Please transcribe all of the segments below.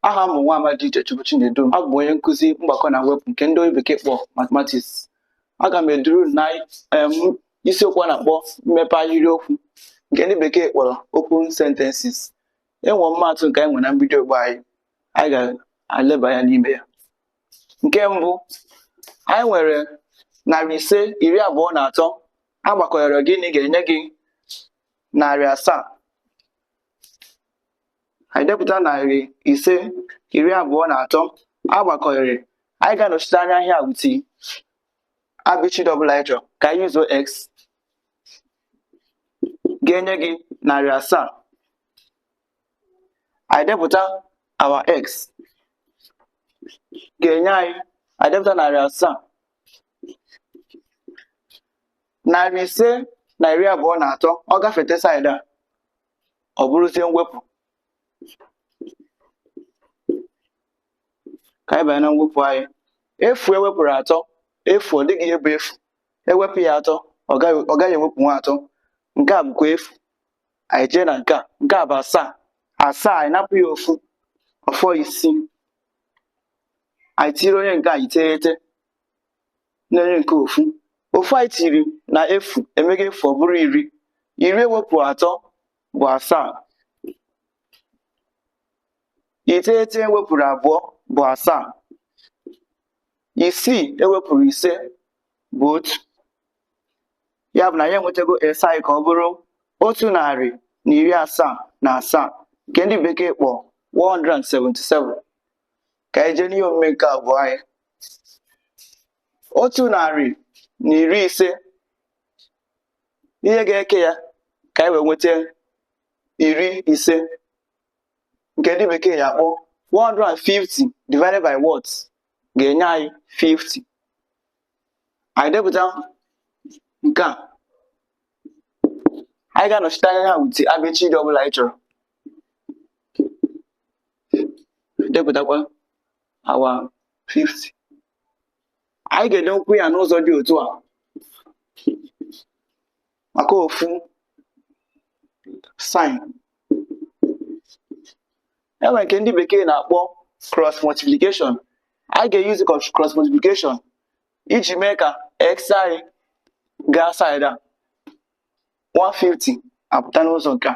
aha m bụ nwa amadi Uchechukwu Chinedu abụ m onye nkụzi mgbakọ na mwepụ nke ndị bekee kpọ mathematics aga m eduru na isiokwu a na-akpọ mmepe ahịrịokwu nke ndị bekee kpọrọ open sentences enwe ọmụmaatụ nke anyị nwere na mbido ogbe anyị anyị ga-aleba anya n'ime ya nke mbụ anyị nwere narị ise iri abụọ na atọ agbakọrọ gịnị ga-enye gị narị asaa anyị depụta narị ise iri abụọ na atọ agbakọrọ anyị ga-anọchite anya ihe a with abịchịdị ọbụla anyị chọrọ ka anyị yuzuo x ga-enye gị narị asaa anyị depụta our x ga-enye anyị anyị depụta narị asaa narị ise na iri abụọ na atọ ọ gafete saịdị a ọ bụrụzie mwepụ ka anyị banye na mwepụ anyị efu ewepụrụ atọ efu ọ dịghị ihe bụ efu ewepụ ya atọ ọ gaghị ewepụnwu atọ nke a bụkwa efu anyị jee na nke a nke a bụ asaa asaa anyị napụ ya ofu ọ fọ isii anyị tiri onye nke a iteghete na onye nke a ofu ofu anyị tiri na efu emego efu ọ bụrụ iri iri ewepụrụ atọ bụ asaa iteghete ewepụrụ abụọ bụ asaa isii ewepụrụ ise bụ otu ya bụ na anyị enwetago x anyị ka ọ bụrụ otu narị na iri asaa na asaa nke ndị bekee kpọ 177 ka anyị jee n'ihe omume nke abụọ anyị otu narị na iri ise ihe ga-eke ya ka anyị wee nweta iri ise nke ndị bekee ya akpọ 150 divided by what ga-enye anyị 50 anyị depụta nke a anyị ga-anọchite anya ha with abịchịdị ọbụla anyị chọrọ depụtakwa our 50 anyị ga-edekwu ya n'ụzọ dị otu a maka ofu sign enwere nke ndị bekee na-akpọ cross multiplication anyị ga-eyuzi cross multiplication iji mee ka x anyị gaa side a 150 apụta n'ụzọ nke a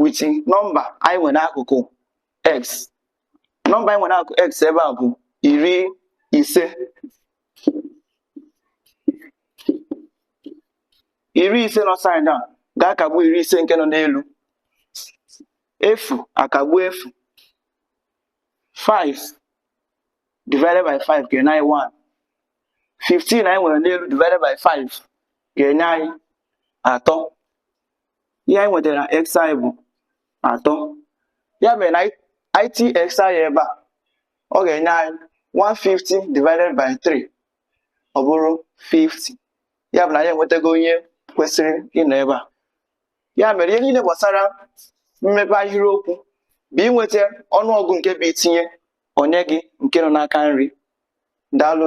with nọmba anyị nwere akụkụ x nọmba anyị nwere akụkụ x ebe a bụ iri ise iri ise nọ side a ga-akagbu iri ise nke nọ n'elu efu akagbu efu 5 divided by 5 ga-enye anyị 1 15 anyị nwere n'elu divided by 5 ga-enye anyị atọ ihe anyị nwetara na x bụ atọ ya mere na i tinye x ebe a ọ ga-enye anyị 150 divided by 3 ọ bụrụ 50 ya bụ na anyị enwetago onye kwesịrị ịnọ ebe a ya mere ihe niile gbasara mmepe ahịrịokwu bụ inweta ọnụọgụ nke bụ i tinye o nye gị nke nọ n'aka nri daalụ